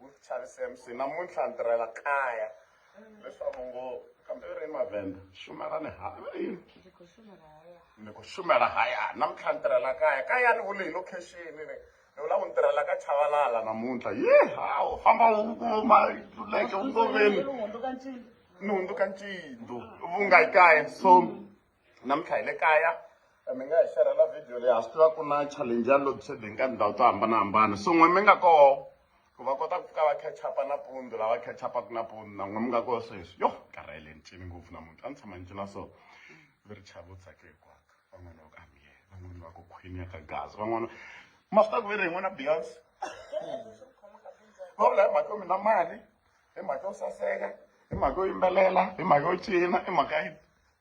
Mutshasi MC namuntlha ni tirhela kaya leswaku ngo kambe ri mavenda shumela ni ha ni ku shumela haya namuntlha ni tirhela kaya kaya ni vule hi location ni ni vula ku ni tirhela ka chavalala namuntlha ye hawu famba u kuma leke u ngoveni ni hundzuka ncindu vunga yi kaya so namuntlha hi le kaya mi nga hi xerhela video leyi ha swi tiva ku na challenge ya load shedding ka tindhawu to hambanahambana so n'we mi nga koho ku va kota ku ka va catchupa nampundzu lava catchupaku nampundzu na n'we mi nga koho sweswi yo karhele ni cini ngopfu namuntlha a ni tshama ni cina so vi ri chava u tsake hikwako van'wana va ku amiye van'wana va ku khwini ya ka gazi van'wana ma swi ta ku ve ri hi n'wana beyonce va vula hi mhaka yo mina mali hi mhaka yo saseka hi mhaka yo yimbelela hi mhaka yo cina hi mhaka yi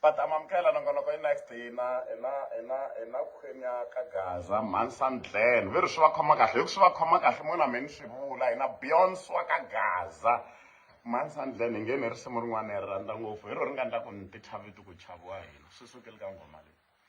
va ta amukela nongonoko i-next hina hina hina hina khwenya ka gaza mhansan glen ve ri swi va khoma kahle hi ku swi va khoma kahle mona mi ni swi vula hina beyonce wa ka gaza mhansan glen hi nge ni risimu rin'wana hi ri rhandza ngopfu hi ro ri nga ndla ku ni ti thyaviti ku chaviwa hina swi sukeli ka nghoma leyi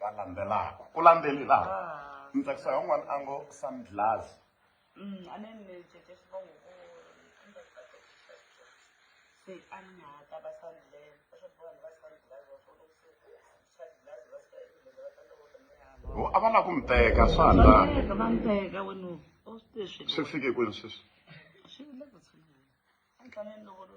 va landzelaka ku landzeli laha ah. ni tsakisa van'wana a ngo sandlas mm, a ni ni cece xivongo se a ni nga ta va sandlas ho a va la ku mi teka swa la va mi teka wenu o swi leswi swi fike kwini sweswi swi le ku tshama a ni tlaneni loko lo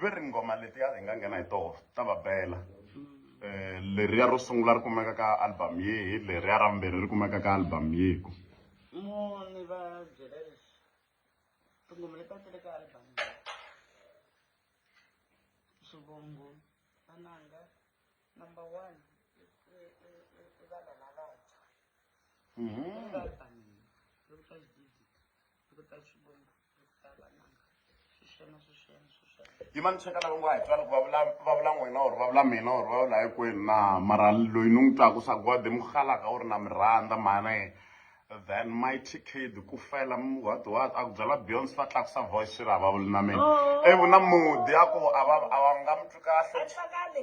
ve ri nghoma leti ya hi nga nghena hi toho ta va bela um leriya ro sungula ri kumeka ka album yihi leriya ra vumbirhi ri kumeka ka album yiku muni va byela leswi tinghoma leti a ti ri ka album swivongo vananga number one i vana lavantshwa album loko ta xididi loko ta xivongo yi ma ni cheka lava ngo a hi twani ku va vula va vula n'wina or va vula mina or va vula hinkwenu na mara loyi ni n'wi twaku swa gode mi halaka u ri na mi rhandza mhani then mighty kid ku fela m- what what a ku byala beyonce va tlakusa voice swi ri a va vuli na mina Oh. ivi na mudi a ku a va a va nga mi twi kahle Atwakale.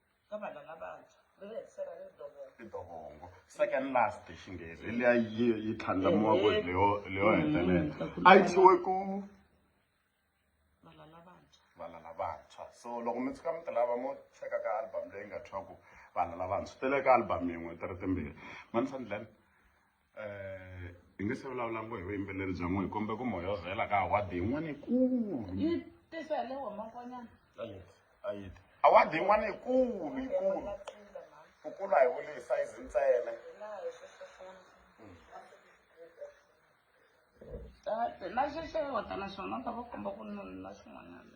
ka vana lavantshwa ri ri hetisela ri ri dovongo i dovongo second last hi xinghezi hi leya yi yi tlhandlamiwa ku ri leyo leyo hetelela a yi tshiwe ku vana lavantshwa vana lavantshwa so loko mi tshuka mi ti lava mo cheka ka album leyi nga thwaku vana lavantshwa ti le ka album yin'we ti ri timbirhi manisandlani Eh, hi nge se vulavula ngo hi vuyimbeleri bya n'we hi kombe ku moya wo vhela ka awadi yin'wana yikulu yi tisa hi le wamakonyana ayiti ayiti awadi yin'wana yikulu yikulu ku kula hi vuli hi sayizi ntsena tate na xexewata naswona ta va komba ku nuna xin'wanyana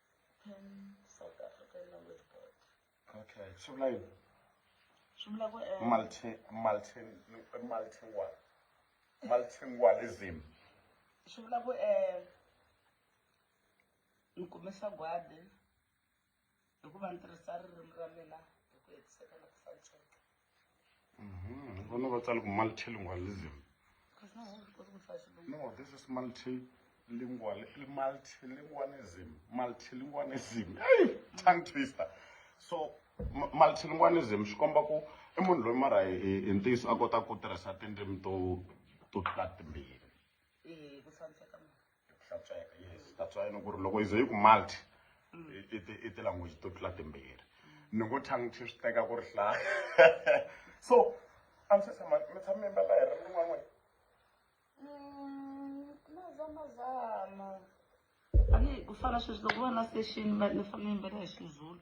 Pan South African language board. Okay, swi vula yini? Swi vula ku eh, multi multi multi what? Multilingualism. Swi vula ku eh ni kumisa gwadi hikuva ni tirhisa ririmi ra mina hi ku hetiseka na ku hlantsweka. Mhm. Vona va tsale ku multilingualism. Because now all because we fight Shilungu. No, this is multilingual, multilingualism, multilingualism. Hey, tongue twister. So, mu- multilingualism swi komba ku i munhu loyi mara hi hi- hi ntiyiso a kota ku tirhisa tindzimi to to tlula timbirhi. Eh, ku tshamiseka mara. hlantsweka yes that's why ni ku ri loko yi ze yi ku multi i tilanguage to tlula timbirhi ni ngo tongue twi swi teka ku ri hlaya so a mi se tshama mi tshama mi mbala hi ri rin'wana wena mm, mazamazama a ni ku fana sweswi loko va na station ni fane ni mbala hi xizulu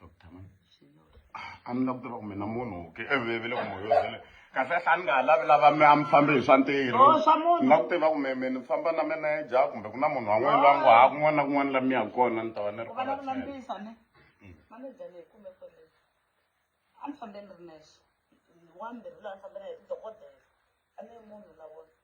doctor man a ni la ku tiva ku mina munhu ke evevele ku moyo vele kahle kahle a ni nga ha lavi lava mi a mi fambe hi swa ntirho Oh, swa munhu. ni la ku tiva ku me me ni famba na meneja kumbe ku na munhu wan'wana loyi a ngo ha kun'wana na kun'wana la mi ya kona ni ta va ni ri u va na ku kona lambisa ne manager leyi kumbe fone a ni fambeni ri nexe wambirhi laha ni fambela hi dokodela a ni ri munhu na vona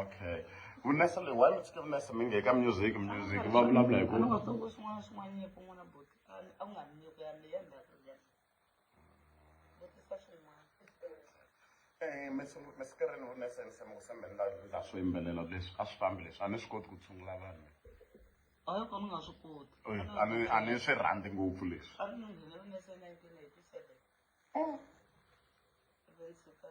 okay vunesa leyi why mi tshike vunesa mi nge ka music music va vulavula hi ku nga tsongo swin'wana swin'wana nyiko n'wana bot a wu nga ri nyiko ya leyi ya ndzhaku ya vutisa swin'wana Eh, mesikirini wu nesense mi ku sembe ni laha swo yimbelela leswi a swi fambi leswi a ni swi koti ku tshungula vanhu a yi kona u nga swi koti Eh, a ni a ni swi rhandzi ngopfu leswi a ni nghene vunesa nineteen eighty seven Oh, ive ni suka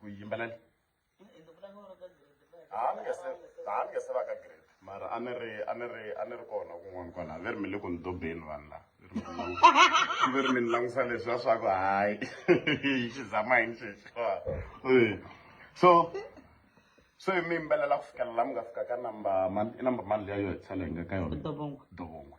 kuyimbelela a ni nge se a ni nge se va ka grade mara a ni ri a ni ri a ni ri kona kun'wana kwala ve ri mi le ku ni dobeni vanhu lava ve ri mi ni langusa leswi va swa ku hayi xi zama yini xexi so so hi mi yimbelela ku fikela la mi nga fika ka number mani i number mani leyi a yo hetisela hi nga ka yona dobongwe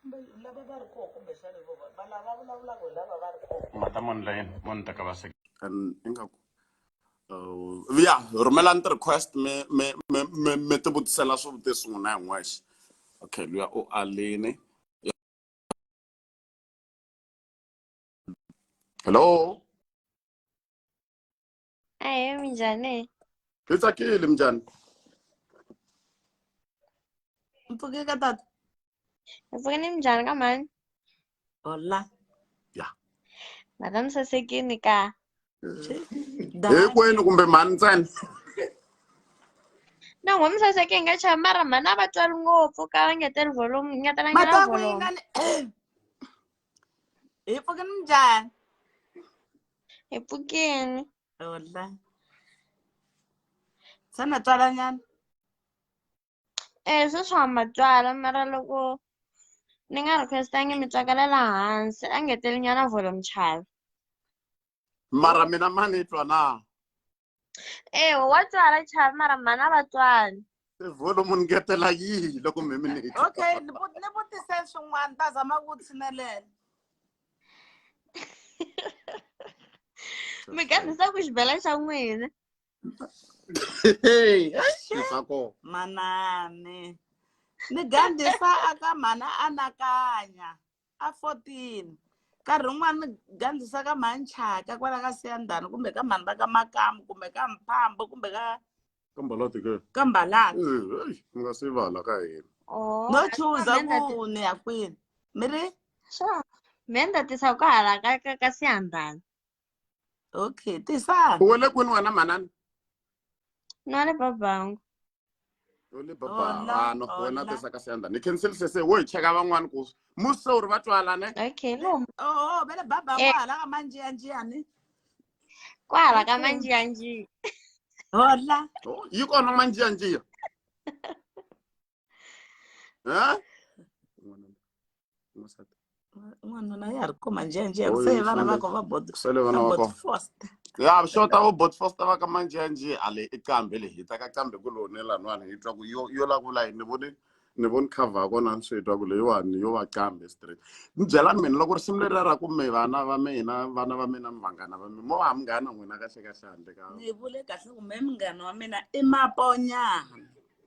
kumbe lava va ri koho kumbexana vo va va lava vulavulaka hi lava va ri koho mata mani la yena mani ta ka va sek and ingaku uh, ya rhumelani ti-request mi mi mi mi mi ti vutisela swivutiso n'wina hi n'wexe okay luya u alini hello Aye, minjani? Hi tsakile minjani? Mpfukile ka tata. Mpfukile ni minjani ka mhani? Hola. Ya. Madam sasekini ka. Hinkwenu kumbe mhani ntsena? No, ngoma saseke nga chaya mara mhani a va twali ngopfu ka va ngeteli volume, ngetelanga na volume. Ipuke njani? Epukeni. Hola. Sana tswala nyana? Eh, sweswi ha matswala mara loko ni nga requestangi mi tswakela la hansi a ngeteli nyana volume chava mara mina ma ni twa na ewe wa tswala chava mara mhani a va tswali volume ni ngetela yihi loko mi mi ni okay ni vu- ni vutise swin'wana ta zama ku tshinelela mi gandisa ku xibela xa n'wina Hey, ai, ni swa kona manani ni gandisa aka mhana anakanya a 14 nkarhi wun'wana ni gandzisa ka manchaka kwala ka siyandhani kumbe ka mhani va ka makamu kumbe ka mphambo kumbe ka ka mbalati ke ka mbalati Eh, eish, mi nga se vala ka hina Oh, no a- chuza Amanda ti- ku ni ya kwini mi ri Sure. Me ni ta tisa ku hala ka ka ka siyandhani okay tisani u wele kwini wena manana no le babangu yo le baba Hola, no go wena hola. tesa ka senda ni cancel se se wo hi cheka van'wana ku musa uri va twalane okay no oo vele baba Eh. kwahala ka manjiyanjiyani kwala ka Okay. manjiyanjiya hola Oh, yi kona manjiyanjiya ha n'wanuna ya ha ri kuma njhenjhe ku se vana va ko va kusele vana va ko ya xota vo botfosta va ka manjhenjhe a le i qambe le hi ta ka qambe ku lone lan'wana hi twa ku yo yo la ku la ni vone ni voni cover ya kona ni swi twa ku leyiwani yo va qambe straight ni byelani mina loko risimu leri ra ku mi vana va mina vana va mina mi vanghana va mina mo va munghana n'wina kahle kahle handle ka ni vule kahle ku me munghana wa mina i maponyana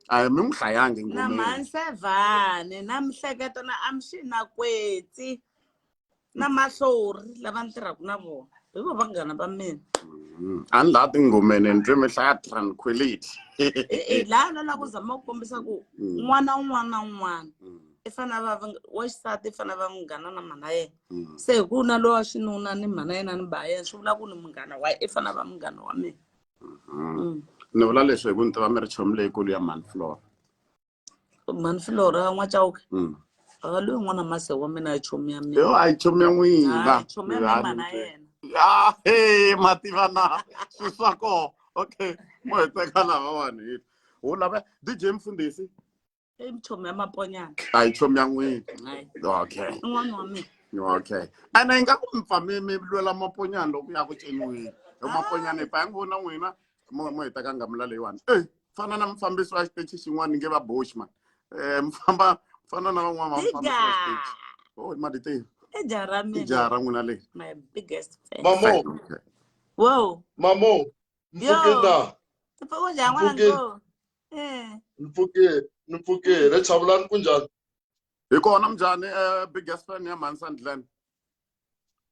a mi n'wi hlayangi na ngomeni mhansevhane na mihleketo na amxi na kwetsi na mahlori lava ni tirhaka na vona hi vo vanghana va mina Mm. a ni laha tingomeni ni twe mi hlaya tranquility e laha na lava ku zama ku kombisa ku Mm. n'wana un'wana na un'wana Mm, i fanele va va- wa xisati i fanele va munghana na mhana yena mm. se hi ku na lowa xinuna ni mhana yena ni ba yena swi vula ku ni munghana wa yena i fanele va munghana wa mina ni vula leswi hi ku ni tiva mi ri chomi leyikulu ya mhani flora mhani flora n'wacauke mm. a loyi n'wana mase wa mina ya chomi ya mina yo a yi chomi ya n'wina chomi ya mina mana yena ya he mativa na swi swa koho okay mo hi teka lavawani hi wu lava dj mfundhisi i mchomi ya maponyana a yi chomi ya n'wini Hayi. okay i n'wana wa mina okay ene yi nga ku mi pfa mi mi lwela maponyana loko ya ku ceniwini hi maponyana hi pfa ya n'wi vona n'wina mo mo heta ka ngamula leyiwani e fana na mufambisi wa xitechi xin'wana ni nge va boshman um mi famba fana na van'wana va mufambisi wa xitechi diga o maditini i jaha ra i mina jaha ra n'wina leyi my biggest fan Mamo, Okay. wow mamo, mfukina. tipfa ku njhani n'wana Mfukeni. ngo mm. ni pfukile ni pfukile chavulani ku njhani hi kona mnjhani um eh, biggest fan ya mhani sandland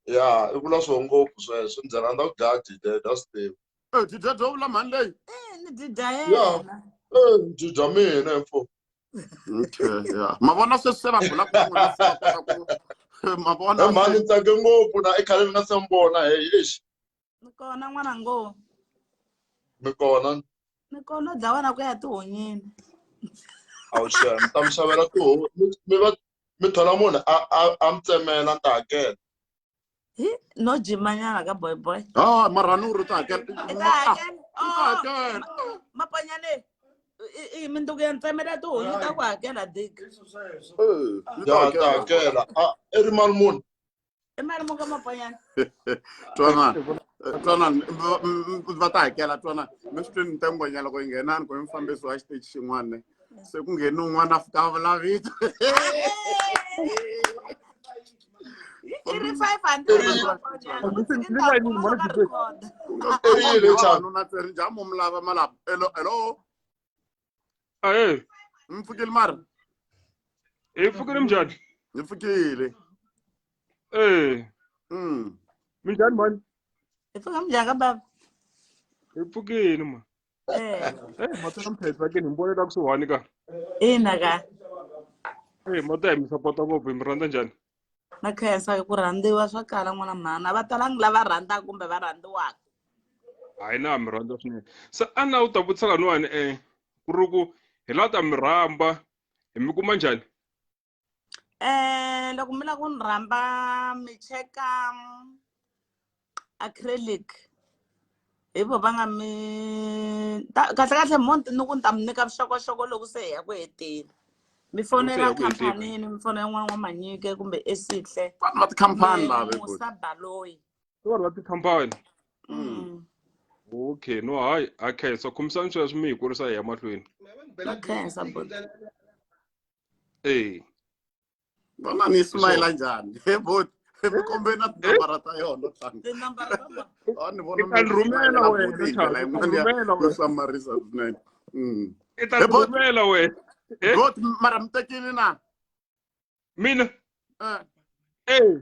ya i vula swo ngopfu sweswo ndzi rhandza ku dlaya dide dya stive e eh, dida dyo vula mhani leyi eh, ni dida yena ndzi dya mina mfo okay ya ma vona sweswi se va bula ku ma vona mhani tsake ngopfu na i khale ni nga se mi vona heyi exi ni kona n'wana ngo ni kona ni kona u dlawana ku ya tihonyini a wu xana ni ta mi xavela tiho mi va mi thola munhu a a a mi tsemela ni ta hakela no jimanyana ka boy boy ah mara ni ri ta hakela i ta hakela oh, mapanyane i minduku ya ntsemela tihonyi ta ku hakela dik ya ta hakela i ri mali munhu mali mo ka mabanyana twanana eh, twanana va ta hakela twanana mi swi tweni ntangonyana loko yi nghenani ku i mufambisi wa xiteji xin'wana se ku ngheni un'wana a fika a vulavito erile njhani hello aye mi pfukile mara hi pfukile minjhani mi pfukile ee mm. minjhani mani hi pfuka minjhani ka baba hi pfukile ma eh. eh, matona mphedza ke ni mbonela kusuhani ka ina ka ee mata hi mi sapota ngopfu hi mi rhandza njhani na khensa ku rhandziwa swa kala n'wana mhana va talangi lava rhandzaka kumbe va rhandziwaka hayi na mi rhandza swinene se a na u ta vutisa laniwani um eh, ku ri ku hi la ta mi rhamba hi mi kuma njhani um loko mi lava ku ni rhamba mi cheka acrylic hi vo va nga mi kahlekahle mo ni ku ni ta mi nyika vuxokoxoko loko se hi ya ku heteni mi fonela khampanini mi fonela n'wana wa manyike kumbe esihle vanhu va tikhampani lavemusa baloyi vanhu va tikhampani mm. okay no hayi a khensa khomisani sweswo mi hi kurisa hi ya mahlweni a khensa bo ee vana ni smayila njhani he bot mikombeni na tinambara ta yona ni vona rhumela wenandlela yin'wana yo hlamarisa swinene mm. i ta rhumela wena bot mara mi tekile na mina eh. eh.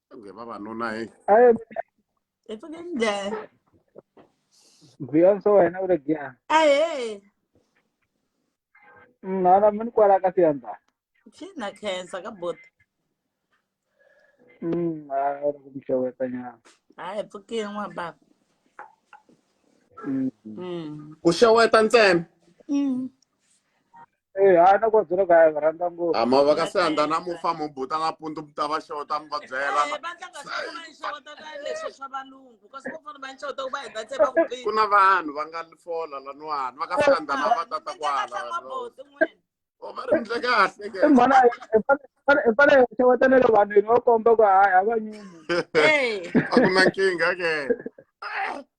nge vavanuna he hi pfuke njhani beyonce wena u le giya ahe mnana mi ni kwala ka siyandza xina khensa ka bota Mm, ah, era como que eu ia apanhar. hayi hi pfukile n'wa baba Mm. Mm. ku xeweta ntsena Mm. Eh, a na kwadzela kaya va rhandza ngopfu ama va ka senda na mufa mubuta na pundu muta va xota mi va byela Eh, va tlanga swin'wana va nxawota ka leswo swa valungu kasi vo fana va nxawota ku va heta se va ku biha ku na vanhu va nga fola laniwani va ka senda na va tata kwala bote n'wini o va ri ndle kahle ke i mhana i fane- i fane- i fane hi xeweta na le vanhwini va komba ku hayi a va nyumi Eh, a ku na nkingha ke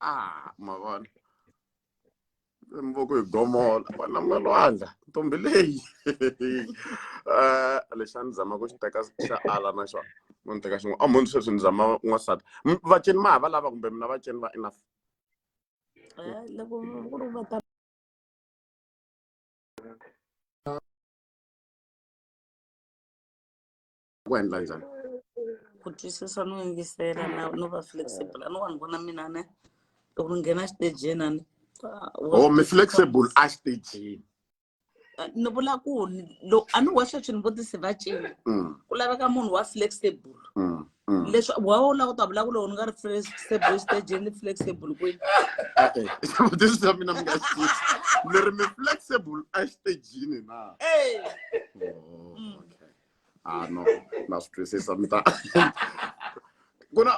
ah mavona mivoko hi gomola vana mi nga lwandla ntombi leyi um lexi a ni zama ku xi teka xa ala na xona no ni teka xin'wana a mhoni sweswi ni zama n'wansati vaceni ma ha va lava kumbe mina vaceni va enough eh, loko ku ri va ta ku endla njhani ku twisisa no yingisela na no va flexible a no vanhu vona mina ne loko ni nghena xitejeni a ni oh mi flexible a xitejini ni vula ku a ni wexe swi ni vutisi va cini mm. ku laveka munhu wa flexible mm, mm. leswi wa wu lava ku ta vula ku loko ni nga ri flexible xitejini ni flexible kwini vutisi bya mina mi nga xi mi ri mi flexible a xitejini na oh, okay ah no na swi twisisa mi ta ku na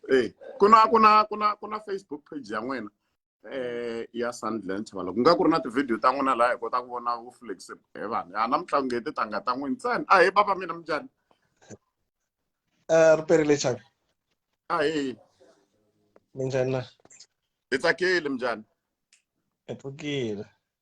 eh ku na ku na ku na ku na Facebook page ya n'wina eh ya Sandland Chavala ku nga ku ri na ti-video ta n'wina laha hi kota ku vona vu flexible he vanhu a na mitlangu hi titanga ta n'wina ntsena a he baba mina minjhani eh, ri perile chavi a he minjhani na hi tsakile minjhani hi pfukile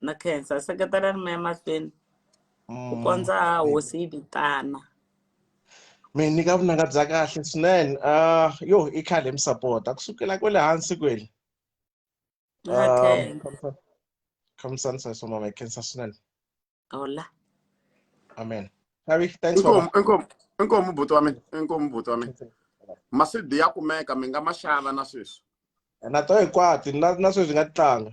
na khensa seketela ri meya mahlweni ku Mm. kondza hosi yi vitana mi nyika vunanga bya kahle swinene um yo i khale mi sapota ku sukela kwele hansi kwele ni nga khensa khamisani sweswo mama hi khensa swinene hola amen xavi thanks mama inkomu inkomu inkomu buti wa mina inkomu buti wa mina masidi ya kumeka mi nga ma xava na sweswi na to hinkwato na na sweswi nga ti tlanga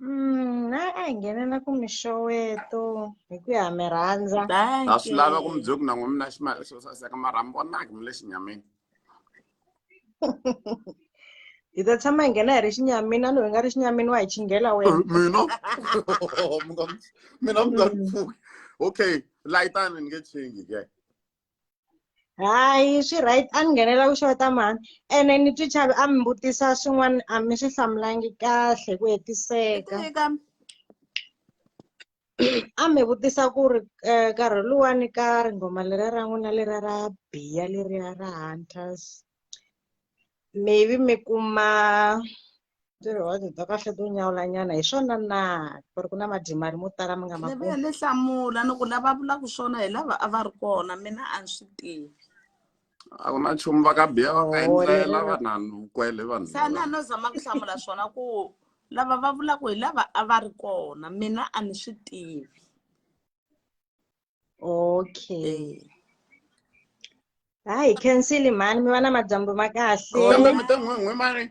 Mm, naye a hi nghenela ku mixoweto hi ku ya mi rhandza a swi lava ku mi byela ku na n'we mina ximali xo saseka mara mi vonaka mi le xinyamini hi ta tshama hi nghena hi ri xinyamini a loyi nga ri xinyamini wa hi chinghela wena Eh, mina Mi nga- mina mi nga ni pfuki okay layitani ni nge chingi ke hayi swi right a ni nghenela ku xota mhani ene ni twi chavi a mi vutisa swin'wana a mi swi hlamulangi kahle ku hetiseka a mi vutisa ku ri um nkarhi luwani ka ringhoma leriya ra n'wina leriya ra biya leriya ra hunters maybe mi kuma ntirho wa bya kahle to nyawulanyana hi swona na ku ri ku na madyima ri mo tala mi nga ma levuya ni hlamula ni ku lava vulaka swona hi lava a va ri kona mina a ni swi tivi a ku na nchumu va ka biya va nga endlela vanhanu kwele vanhu se a ni a no zama ku hlamula swona ku lava va vulaka hi lava a va ri kona mina a ni swi tivi okay eh. ha hi cancel mhani mi va na madyambu ma kahle mi ta n'wan'we mani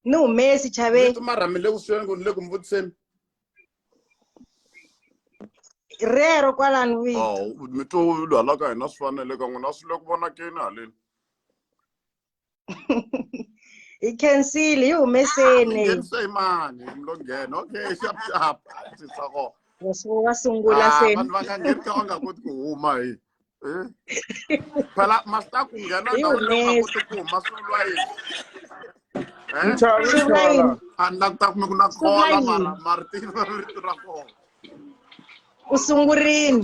ni humesi chaveni ma rhamile kusuweni ku ni le ku mi vutiseni rero kwalani vito oh, mi twa halaka hina swi fanele ka n'wina swi le ku vonakeni haleni hi khensile yi humeseni ah, mani lo nghena okay xapxap sisako wa sungula ah, se vanhu va nga ngheni ka va nga koti ku huma hi eh? phela masita ku nghena na u nga koti ku huma swi vula yini eh? a ni languta kume ku na khola mara martin va rito ra kona u sungurile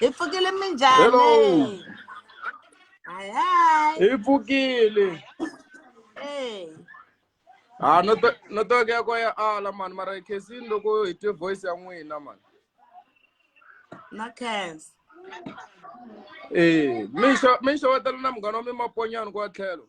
hi pfukile minjhani Hello. hi hi hi pfukile hey. ha no to- no toke ya ko ya ala mani mara khesini loko hi twe voice ya n'wina mani na khensa ee mi xo- mi xewetela na munghana wa mi maponyani kwa tlhelo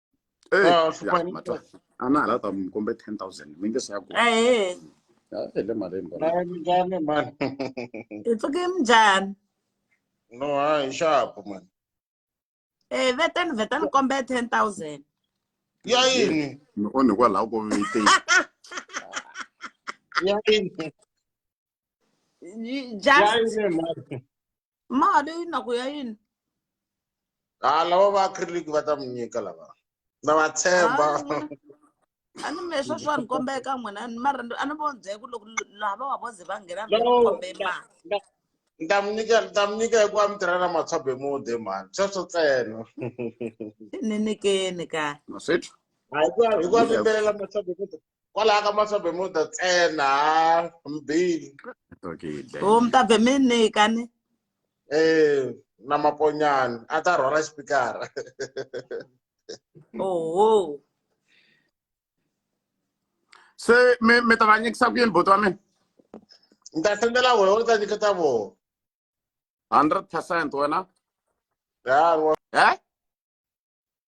anala ta mi kombe ten thousand mi nge se ya ku hi le malini njhani mani hi pfuke njhani no hayi nxapu mani e vetani vetani kombe ten thousand ya yini mi onhi kwalaho ko viteni ya yini ya yini mani mali yi na ku ya yini ha lava va acrylic va ta mi nyika lava na va tshemba a ni me swa swa ni kombela eka n'wina mara a ni vonzhe ku loko laha va wa voze va nghena ni kombe mali ni ta mi nyika ni ta mi nyika hikuva mi tirha na matshwabe mude mhani sweswo ntsena ni nyikeni ka hikuva hikuva mi mbelela matshwabe mude kwalaha ka masa bemuda ntsena mbili o mi ta be mi nyika ni um na maponyani a ta rhwala xipikara oho se mi mi ta va nyikisa ku yini buti wa mina ni ta sendela wena u ta nyiketa vona hundred percent wena ya eh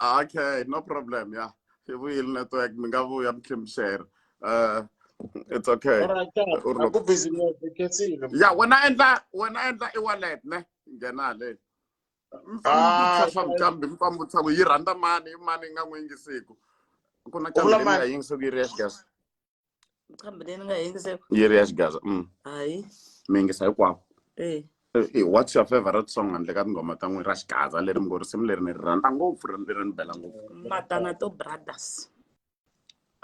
okay no problem ya hi vuyile network mi nga vuya mi tlhemixera uh, it's okay ya wena endla wena endla i wallet ne nghena haleni ah, swa micambi mi pambutisa ku yi rhandza mani i mani yi nga n'wi yingisiku ku na cambi leyi nga yingisiku yi ri ya gas xam nga dina nga yëngu sa. yëre as gaza. Mm. ayi. mi ngi say kwaam. eh. eh, eh what's your favorite song handle ka tinghoma ta n'wina ra xigaza leri mi ngo risimu leri ni ri rhandza ngopfu leri ni bela ngopfu matana to brothers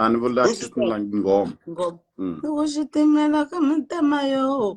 a ni vula xitimela nghoma mm. xitimela ka mitema yo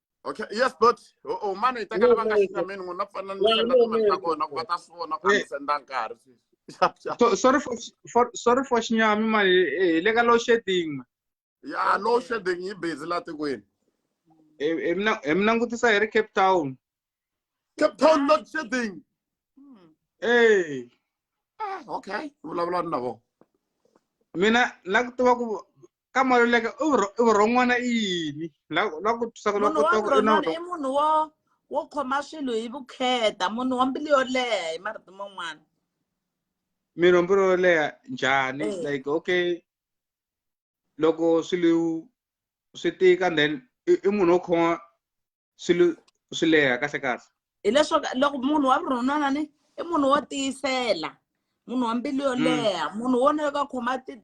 okay yes dot o o mana yi tekela va nga xita mina n'wina pfana ni senda timali ta kona ku va ta swi vona ku a ni senda nkarhi sweswi xap xap So- sorry for for sorry for xinyami mani eh, hi le ka low shedding ma ya low shedding yi busy la tikweni Eh, eh, mi na- eh, mi langutisa hi ri cape town cape town load shedding Hmm. Eh, Ah, okay vulavula ni na vona mina na ku tiva ku ka maluleke i vurho- i vurhon'wana i yini la la ku twisa ku la munhu wa kota ku i na vurhon'wana vurhon- i munhu wo wo khoma swilo hi vukheta munhu wa mbilu yo leha hi marito man'wana mirhomboro yo leha njhani Eh. like okay loko swilo swi tika then i i munhu wo khoma swilo swi leha kahle kahle hileswaku loko munhu wa vurhon'wana ni i munhu wo tiyisela munhu wa mbilu yo Mm. leha munhu wo na ka khoma ti-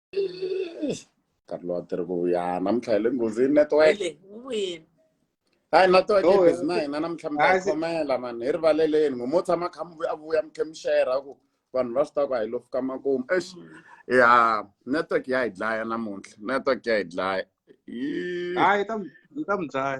nkarhi lowu a ti ri ku ya namuntlha hi le nghozini network Ele, u vuyile. hayi network Oh, ibhizi na hina namuntlha mi ta Hayi, yi se- khomela mani hi rivaleleni ngo mo tshama kha mi vuya- a vuya mi khe mi shera ku vanhu va swi tiva ku a hi lo fika makumu ex ya network ya hi dlaya namuntlha network ya hi dlaya Yee. hayi ta mi- ta mi dlaya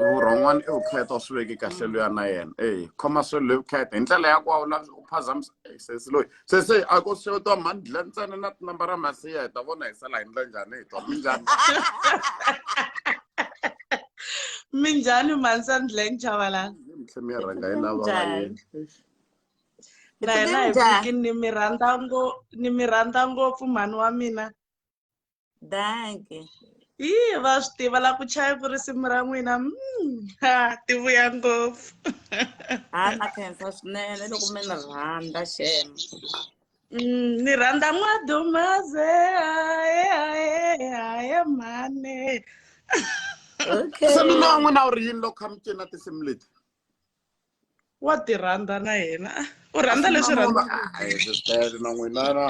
vurhon'wana i vukheta u swi veke kahle luya na yena e khoma swe loyi vukheta hi ndlela ya kwawu la u phazamisa sesi loyi sesi a ko xewetiwa mhani dla ntsena na tinamba ra masiya hi ta vona hi sala hi ndla njhani hi twa minjhani minjhani mansa ndleng chavalani mitlhe mi ya rhanga yi lava va yena na hina hi viki ni mi rhandza ngo ni mi rhandza ngopfu mhani wa mina danke yi va swi tiva la ku chaya ku risimu ra n'wina mm, ha ti vuya ngopfu ha na khensa swinene loko mi ni rhandza xem mm, ni rhandza n'wadumaze haye haye haye mhane okay se mina n'wina u ri yini loko kha mi cina tinsimu leti wa ti rhandza na yena u rhandza leswi rhandzaka na n'wina na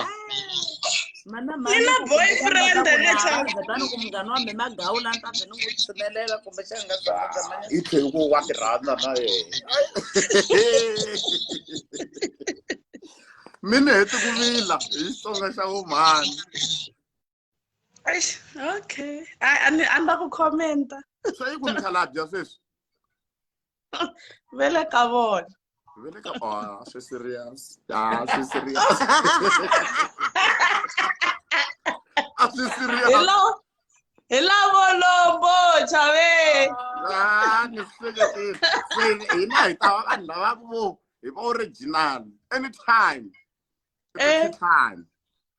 mana mina boyfriend leswakuani ku munghana wa mina magawu la ni ta ze ni n'wi tshinelela kumbe xa nga i tlhe ku wa ti rhandza na yena mi ni heti ku vila hi xitsonga xa vumhani okay a ni a ni la ku commenta swa yi ku mi khalabya sweswi ve le ka vona ve le ka vona swi serious a swi serious a swi serious hello hi lavo lombo chave a ni seketile se hina hi ta va vanhu lava ku vo hi va original anytime eh. time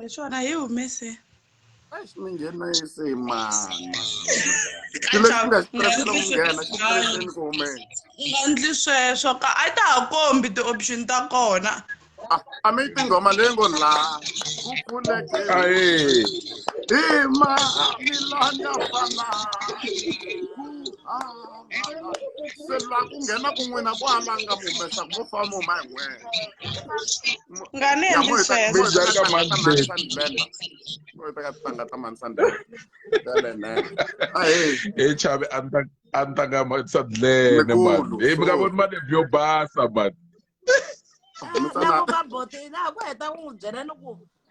hi swona hi humese Eish, mi nghenise hi mani xilo xi nga xitirese loko mi nghena xi tireseni ku humeni u nga ndli sweswo ka a ta ha kombi ti-option ta kona Ah, a mi yi tinghoma leyi ngo la ku pfuleke Ayy. hi ma milanya fana se la ku nghena ku n'wina ku alanga mu humesa ku mo famba mu huma hi n'wena nga ni endli sweswo Minjhani ka Mandleti? teka tintangha ta mansandela telene ahee he chave a ni ta a ni ta nga matisa dlene mani Mikulu, he mi nga so- voni malebyi yo basa mani loko ka bote laha ku heta ku n'wi byela ni ku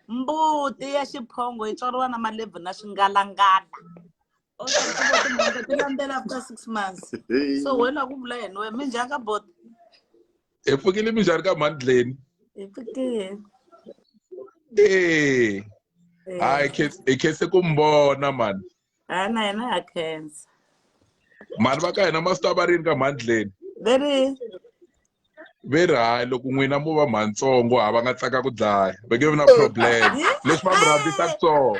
mbuti ya xiphongo yi tswariwa na malebvu na swingalangala tilandela after six months so wena ku vula yena we mi njhani ka bot hi pfukile mi njhani ka mandleni hi pfukile ee hayi hi khense ku mi vona mani ha na yena ha khensa mani va ka hina masita va rini ka mandleni ve ri ve ri hayi loko n'wina mo va mhantsongo ha va nga tsaka ku dlaya ve nge vi na problem leswi va mi rhandzisaka swona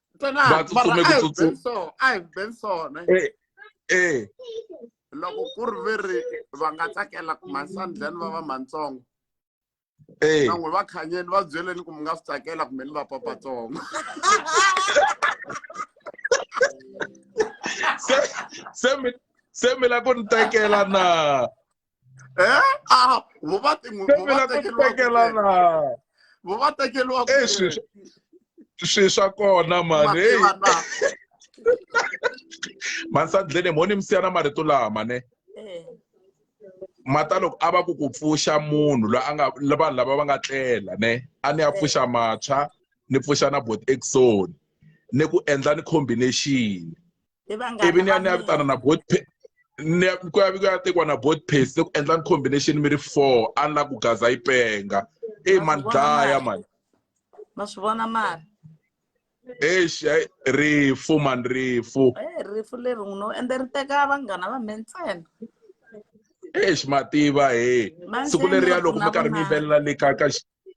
ba tsutsumeka eh, eh. loko ku ri ve ri va nga tsakela ku mansandlani va va matsongo eh. nan'we va khanyeni va byeleni ku mi nga swi tsakela kumbe ni va papatsongo se mi la ku ni tekela na eh ah vo va tin'we vo va tekeriwa vo va tekeriwa eh swi swi swa kona mani hey mansandleni mo ni mi siya na marito lama ne eh. mata loko a va ku ku pfuxa munhu loyi a nga vanhu lava va nga tlela ne a ni ya eh. pfuxa matshwa ni pfuxa na bot exon ni ku endla ni combination ivi ni ya ni ya vitana na both ku ya ku ya tekiwa na both pace se ku endla ni combination mi ri four a ni la ku gaza yi penga eyi mani dlaya mani ma swi vona mari eish rifu mani rifu eh, rifu leri n'wi no ende ri teka vanghana va me ntsena eish mativa he siku leriya loko mi karhi mi yimbelela le ka ka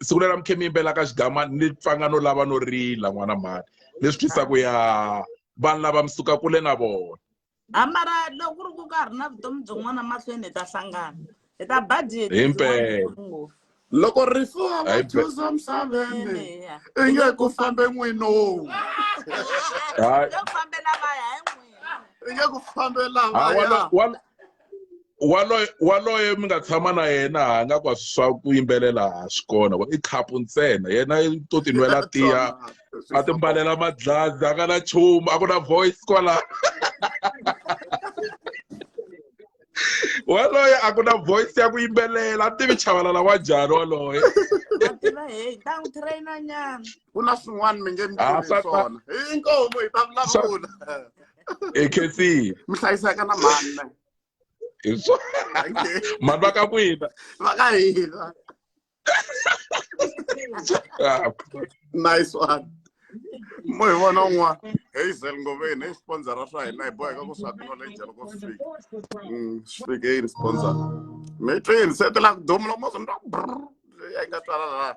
siku leri mikhe mi yimbelaka xigama ni pfanga no lava no rila n'wana mhani leswi twisaka ya vanhu lava mi suka kule na vona amara loko ku ri ku ka ha ri na vutomi byin'wana mahlweni hi ta hlangana hi ta budget hi mpela loko rifu a va chuza misaveni i nge ku fambe n'wino i nge ku fambela vaya waloye waloye mi nga tshama na yena ha nga kwa swa ku yimbelela ha swi kona i khapu ntsena yena to tinwela tiya a timbalela madlazi a nga na chumu a ku na voice kwala waloye a ku na voice ya ku yimbelela a tivi chavalala wa njhani waloye ku na swin'wana mi nge mi Ah, tivi swa- swona hi nkomo hi ta vulavula e khetsini mi hlayiseka na mhani na Hi swo- Thank you. mhani va ka n'wina va ka hina Ah, nice one mo hi vona un'wana hazel ngoveni hi sponsora swa hina hi boheka ku swi acknowledge loko swi fika Mm, swi fike yini sponsor mi twini se ti la ku duma loko mo swi ni twa ku brrr, leyi a yi nga twala la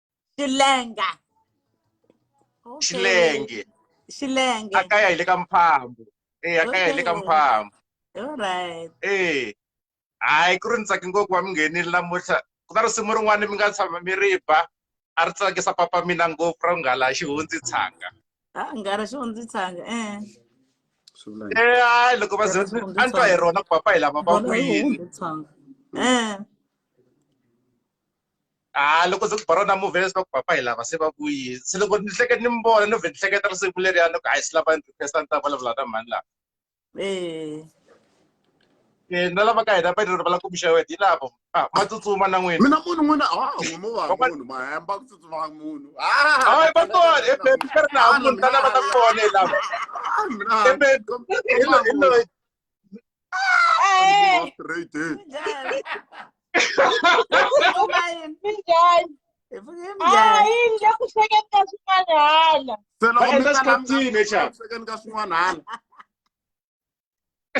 xilenga Okay. xilenge xilenge a kaya hi le ka mphambo e a kaya hi le ka Okay. mphambo all right e hayi ku ri ni tsake ngopfu wa mi nghenile namuntlha ku na risimu rin'wana mi nga tshama mi ri ba a ri tsakisa papa mina ngopfu ra nghala xihundzi tshanga a nga ri xo ndzi tshanga eh Swi vula yini? e hayi loko va ze Xihundzi a ni twa hi tshanga. rona ku papa hi lava va Vona yi kuyini hundzi tshanga eh Ah, loko ndzi baro na movie leswaku papa hi lava se va vuyile se loko ni hleketa ni mi vona ni vhe ni hleketa risimu leriya loko a hi swi lava ni requesta ni ta vulavula na mhani lava eh. eh, na lava ka hina va ri va la kumixayo wena hi lavo ah, ma tsutsuma na n'wina mina munhu n'wina a n'wimo va munhu mahemba ku tsutsuma munhu hayi va kona ebebi ka ri na munhu ta lava ta kona hi lava ebebi hi loyi Ah,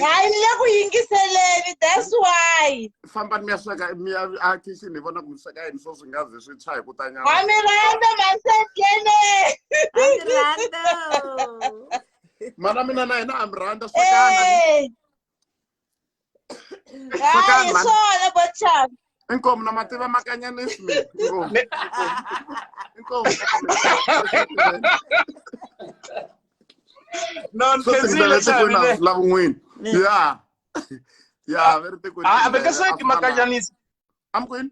hayi ni le ku yingiseleni that's why fambani mi ya sweka mi ya a kitchen ni vona ku mi sweka yini swo swi nga ze swi tshwa hi ku ta nyama ha mi rhandza masetlene ha mi rhandza mana mina na hina ha mi rhandza swakana Eh. Hayi, man. swona bochap. inkomu na mativa makanyanisi mi inkomu Mi- inkomu no ni swo khensile singitela swa etikweni mina la vun'wini ya ya ve ri tikweni a a mi nga sweki makanyanisi amkwini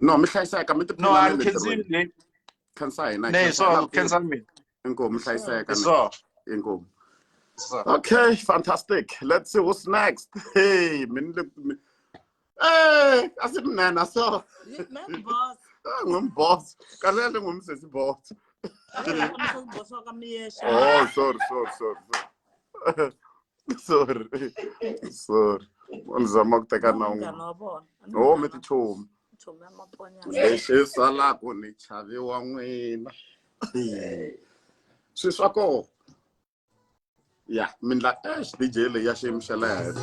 no mi hlayiseka mi no a ni khensile khensa hina ne so khensa mi inkomu hlayiseka so inkomu okay fantastic let's see who's next hey min eh asimnana so ngumboss ah, ngumboss kanele ngumsesi boss oh sorry sorry sorry sorry sorry u ni zama ku teka na un'wana munghana wa vona A ni home munghana- tichomi chomi ya maponyana lexi salaka ni chaviwa n'wina swi swa koho ya mindla ex dj leyi ya xiyimo xa le henhla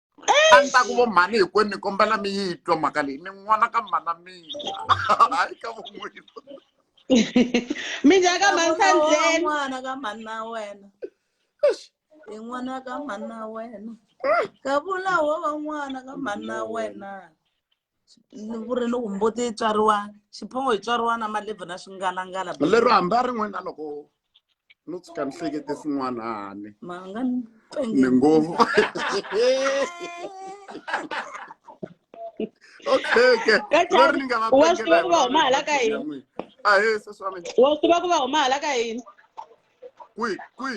a ni ta ku vo mhani hinkwenu ni kombela mi yi twa mhaka leyi ni n'wana ka mhana mina hayi ka vun'wini mi njhani ka mhani sandleni n'wana ka mhani na wena hi n'wana ka mhani na wena ka vula wo va n'wana ka mhani na wena vurelo ku mbuti yi tswariwa xiphongo yi tswariwa na malebvu na swingalangala lero hambi a rin'we na loko no tshuka ni hlekete swin'wanani ni ngo okay ke lero ni nga va wa swi tiva ku va huma hala ka yini a he se swami wa swi tiva ku va huma hala ka yini kwi kwi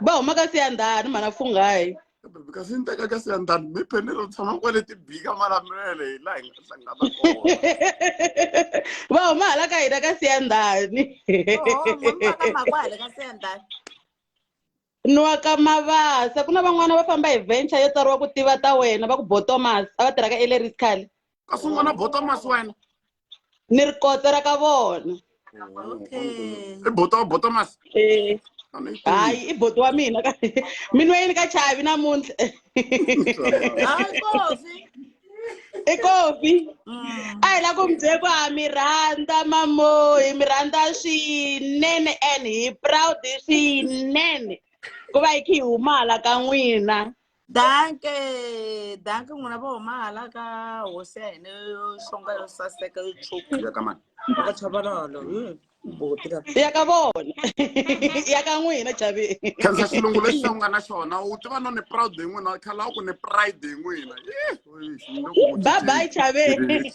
va huma ka siyandhani mhana funghayi kasi ni teka kasi ya ndani mi phenelo tshama kwale ti bika malamulele hi laha hi nga hlangana kona va huma hala ka hina ka siyandhani makwale ka siyandhani nwa ka mavasa ku na van'wana va famba hi venture yo tsariwa ku tiva ta wena va ku botomas a va tirhaka eleriskale kasi un'wana botomas wena ni ri kota ra ka vona Okay. i boto boto mas Eh, a ni yi tivi. hayi i boti wa mina ka mi nweyini ka chavi namuntlha Hayi kofi. i kofi Mm. a hi la ku mi byele ku ha mi rhandza mamo hi mi rhandza swinene and hi proud swinene ku va hi khe hi humala ka n'wina danke danke n'wina vo huma hala ka hosi ya hina yo xonga yo saseka yo tshuku ya ka mani ka chavalolo buti ka ya ka vona ya ka n'wina chaveni khensa xilungu lexi u nga na xona u tiva no ni proud hi n'wina khala u ku ni pride hi n'wina bye bye chaveni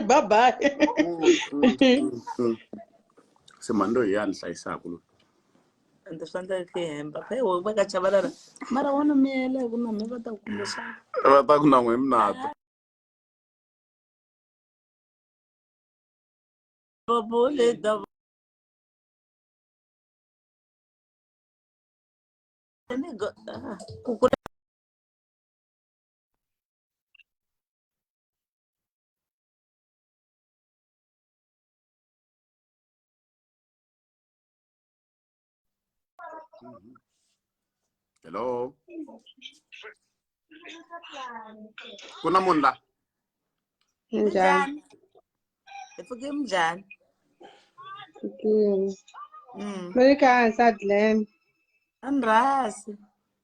bye bye se mani loyi ya ni hlayisaka loyi ende swi endla ku hemba phe wo va ka chavalala mara wa no miyela hi ku na mi va ta ku kumbe swa va ta ku na n'we minata babole da ni go ah, ku kula hello ku na munhu la Njhani? Hi pfuke njhani? Fikile. Mm. Loyi ka hansi a Glen. Andrasi.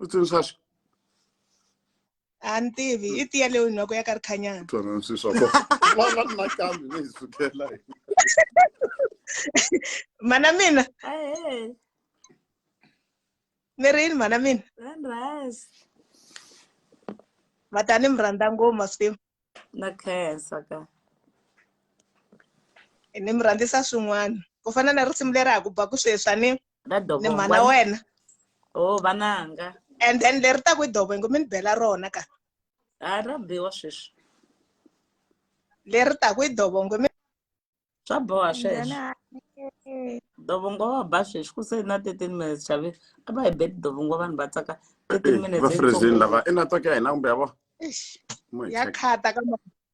u tsundzuxa swi a ni tivi i tiya leyo noko ya ka ri khanyana twana swi swa ko vana na kambe ni hi sukela hi mana mina Hey, mi ri yini mana mina then rise. vatani mi rhandza ngopfu masimu Na khensa ka. ni mi rhandzisa swin'wana ku fana na risimu leri ha ku ba ku sweswi a ni ra ni dobongo mhana wa wena oh vananga and then leri ta ku i dobongo mi ni bela rona ka a ra biwa sweswi leri ta ku i dobongo mi swa boha sweswo Njhana, eh, dobongo wa ba sweswi ku se na 13 minutes xavi a va hi beti dobongo vanhu va tsaka 13 minutes va freezini lava i network ya hina kumbe ya vona Eish, Mo hi ya check. khata ka ma-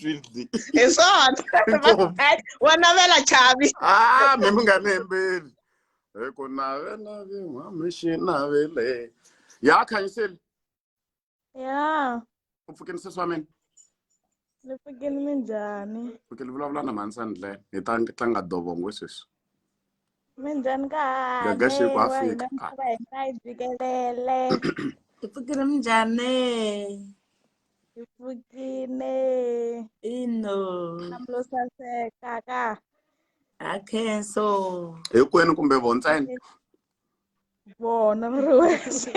swinzi hi swona wa navela chavi ah mi mi nga ni hembeli hi ku navela vin'wami xi navele ya khanyiseli ya u pfukeni sesi wa mina ni pfukeni minjhani pfukeni vulavula na mhani sandlene hi ta tlanga dovongo sweswi minjhani kahle Gaga Sheko wa Africa. hina misava hi nga yi jikelele Hi pfukile minjhani? hi pfukile Ino. hlamlo saseka ka Ha khenso. hinkwenu kumbe vo ntsena vona mi ri wexe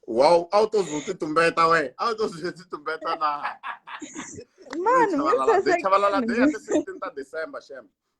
wow a wu to ze u ti tumbeta we a wu to ze u ti tumbeta na mani mi chavalala de chavalala de ya sasekile tisixteen ta december shem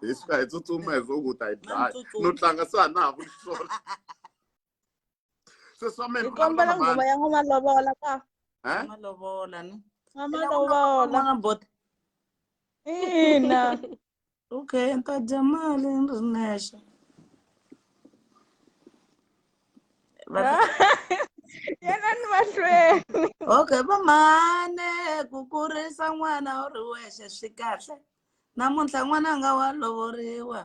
hi suka hi tsutsuma hi swo ku ta hi dlaya no tlanga se a na ha ku sola se swa mina kombela ngoma ya n'wana lovola ka n'wana lovola no n'wana lovola bota ina okay ni ta dya mali ni ri nexe yena ni mahlweni okay vamhane ku kurisa n'wana u ri wexe swi kahle namuntlha n'wananga wa lovoriwa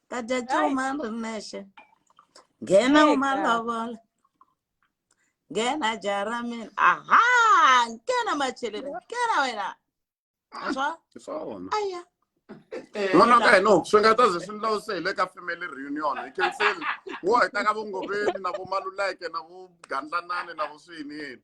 ta dya cuma ni ri nexe nghena Eka. umalovola nghena jaha ra mina aha nghena macheleni nghena wena aswa hi swona aya n'wana wa ka hina u swi nga ta ze swi ndlawuse hi le ka family reunion hi khenseni wo hi ta ka vongoveni na vomaluleke na vogandlanani na voswiyiniyini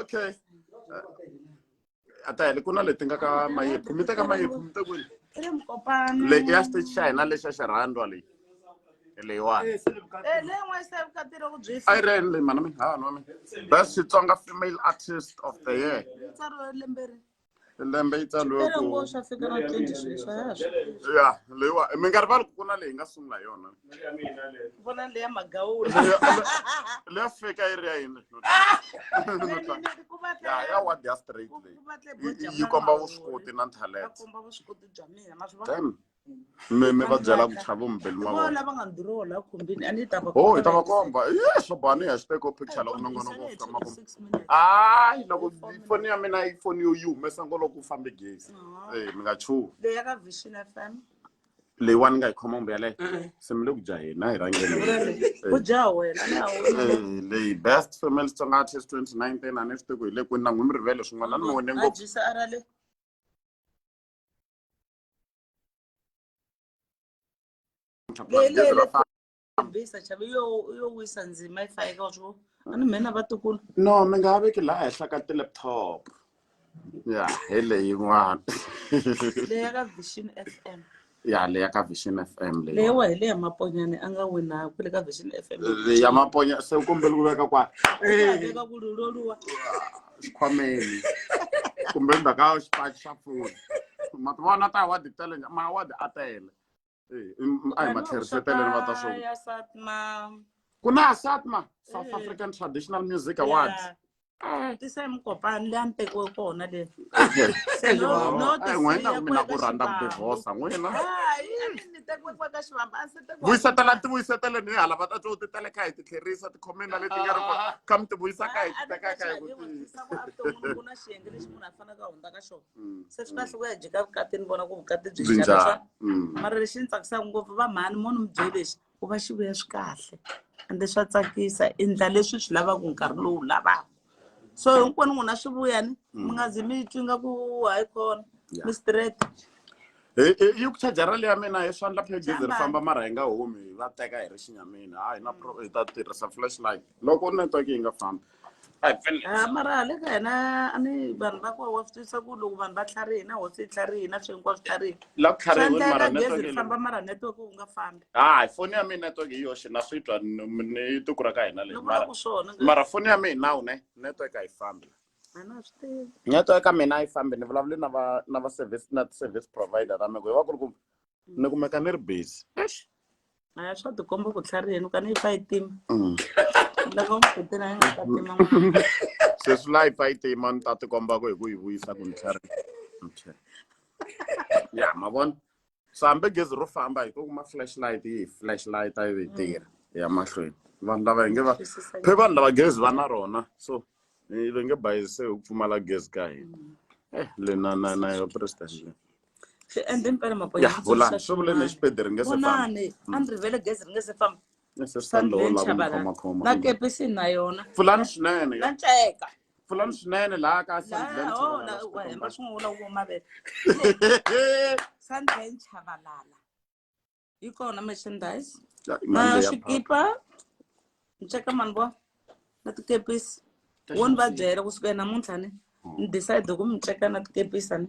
okay a ta heli ku na leti nga ka mayephu mi teka mayephu mi te kwini le ya stage xa hina lexa xa rhandwa leyi leyiwani a yi reni leyi mana mi ha nwa mi best xitsonga female artist of the year lembe yi tsaliwe ku Lembe wo swa fika na 20 sweswi, a ya ha swi tivi. ya leyiwa minkarhi va ri ku na leyi nga sungula hi yona vona leya magawula leya fika yi ri ya yini ya ya ward ya straight leyi Yi- yi komba vuswikoti na talent akomba vuswikoti bya mina ma swi vona Damn. mi mi va byela ku chava mumbeli ma vona lava nga ni duroho la khumbini a ni ta va oh hi ta va komba ye swo bani hi ya xi teka picture loko nongonoko wo fika makumu hayi loko foni ya mina yi foni yo yi humesa ngo loko u fambe gezi e mi nga chuhi leyi ya ka vision f m leyiwani nga yi khoma kumbe yaleyo se mi le ku dya hina hi rhangeni ku dya wena leyi best family xitsonga artist twenty nineteen a ni swi tiku hi le kwini na n'wi mi rivele swin'wana ni mi wone ngopfu no mi nga ha veki laha henhla ka ti-laptop ya hi leyin'wana ya le ya ka vision f m leyiwa hi le ya maponyane a nga wina ku le ka vision f m ya maponya se u kombele ku veka kwani xikhwameni kumbe endzhaku ka xipaci xa foni ma ti vona ta award tele ma award a tele a hi ma tlheriseteleni va ta swo ku na asatma south african traditional music awards tisa mukopani leyi a ni tekiwe kona le n'wina mina ku rhandza ku divorsa n'wina tekiwa ka xivamba a se tekiwa vuyisatela ti vuyisatele ni hala va ta twa u ti teleka hi ti tlherisa ti comment leti nga ri kona ka mi ti vuyisa ka hi ti teka ka hi ku tisa ku avutomi ku na xiyenge lexi munhu a fanaka a hundza ka xona mm, se swi kahle mm. ku ya jika vukati ni vona ku vukati byi njhani mm. mara lexi ni tsakisaka ngopfu va mhani munhu mi byele lexi ku va xi vuya swi kahle ende swa tsakisa endla leswi swi lavaka nkarhi lowu lavaka so hinkwenu n'wina swi vuyani mi nga zi mi twi nga ku hayi kona Yeah. mi straight Hi- hi- yi ku charger rali ya mina hi swandla phegezi ri Jambani. famba mara hi nga humi hi va teka hi ri xinyamini hayi na pro hi ta tirhisa flashlight loko network yi nga fambi a hi pfeli Ah, mara le ka hina a ni vanhu va koho wa swi twisa ku loko vanhu va tlharihina hosi yi tlharihina swi hinkwaswo swi tlharihina la ku swa tlharihiwe mara endleka gezi network ri yi le famba mara network wu nga fambi hayi foni ya mina network hi yoxe na swi twa ni ni tiko ra ka hina leyi mara ku swona nga mara foni ya mina nawu ne network a yi fambi a na swi tivi network ya mina a yi fambi ni vulavule na va na va service na service provider ra meko hi va ku ri ku ni kumeka ni ri busy Eish. a swa tikomba ku tlhariheni ka ni yi fa yi tima Mm. loko mi kutela yi nga ta tima n'wana. sweswi laha yi pfa yi tima ni ta tikomba ku hi ku yi vuyisa ku ni tlhari okay ya ma vona so hambi gezi ro famba hi to kuma flashlight yi flashlight yi ve tirha ya mahlweni vanhu lava hi nge va phe vanhu lava gezi va na rona so hi ve nge bayise hi ku pfumala gezi ka hina eh le na na na yo president le swi endle mpela ya vulani swi vule ni xipedi ri nge se famba vonani a ni rivele gezi ri nge se famba Nese swi ta ndhola ku ni khomakhoma na kepisi na yona fulani swinene na nceka pfulani swinene laha ka hemba swin'wula wo mavele sandben chavalala yi kona merchandise na swikipa nceka mani vo na tikepisi wo ni va byela kusuka namuntlha ni ni decide ku mi nceka na tikepisa ni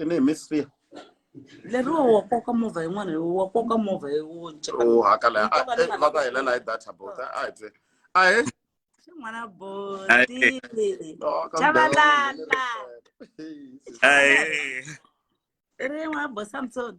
i ni hi miss fear leriwa wa koka movha yin'wana wa koka movha u hakala va ka helela hi data bot a hi tse a he xin'wana boti chavalala rin'wana bosamson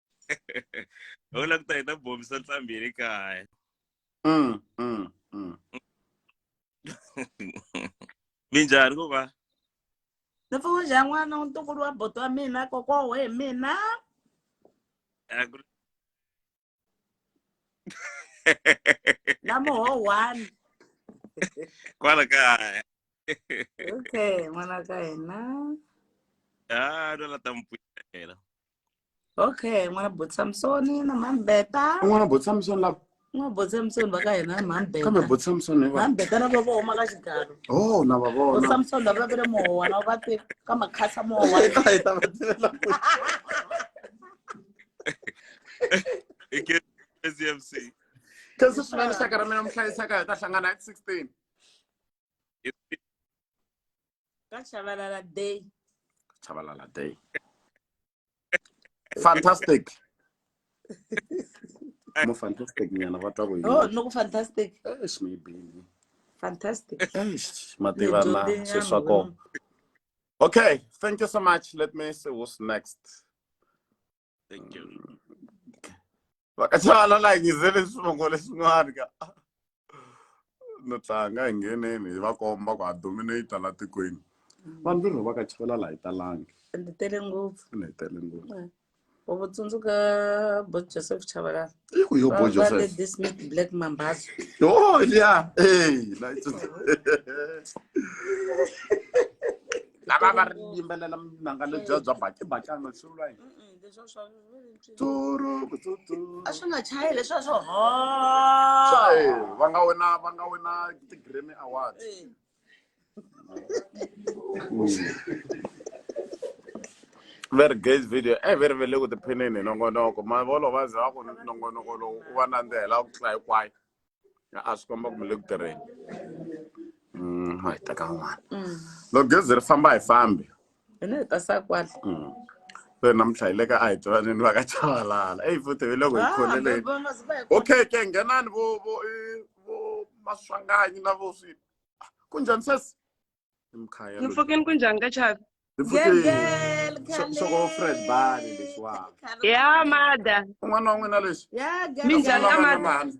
ho la ku ta hi ta bombisa ntlhambi hi ri kaya mm, mm, mm. minjhani ku va ni pfu njhani n'wana ntukulu wa boto wa mina kokoho hi mina na moho one kwala kaya okay n'wana ka hina a ah, no la ta mi pfuxela Okay, n'wana Boti Samsoni na Mhani Beta. N'wana Boti Samsoni lava. N'wana Boti Samsoni va ka hina Mhani Beta. Kambe Boti Samsoni va. Mhani Beta na vona va huma ka xigalo. Oh, na va vona. Boti Samsoni lava va vile mowa na va te ka makhasa mowa. Hi ta hi ta va tivela ku. Hi ke SMC. Kasi swinene xaka ra mina muhlayisaka hi ta hlangana hi 16. ka chabalala day chabalala day fantastic mo fantastic nyana va twa ku yini oh no ku fantastic eish mi bini fantastic eish ma tivana se swa ko okay thank you so much let me see who's next thank you vakaxana la hi ngizele swivongo leswin'wana ka no tlanga hi ngheneni hi va komba ku ha dominate la tikweni mm. vanhu virho va ka chivela la hi talangi ni tele ngopfu ni tele ngopfu mm. u tsundzuka bo joseph chavalala Iko yo boy Joseph. Let this make black mambazo. Oh yeah. Hey, nice. lava va ri yimbelela minanga lebya bya bakibakana swivula yini a swi nga chayi leswi a swo va nga wina va nga wina ti-grammy awards va ri gays video e ve ri ve le ku tiphineni hi nongonoko mavolo va ze va ku nongonoko lowu u va nandzihela ku tlula hinkwayo a swi komba kumbe le ku tirheni mm, hi teka n'wana mm. loko gezi ri famba hi fambi hi na hi ta sa kwala Mm. so namuntlha hi le ka a hi twaneni va ka chavalala eyi futhi hi loko hi Ah, khoneleni baba, ma- ziba hi khona. okay ke nghenani vo vo eh, vo maswanganyi na vo swi ku njhani sesi i mkhaya loyi. Mfokeni ku njhani ka Chavi? Hi futhi- Gegel, Xo- xoko fred bali lexiwani Khale- Ya mada. un'wana wa n'wina lexi Ya, Xo Minjhani pfuna ka vana mhani.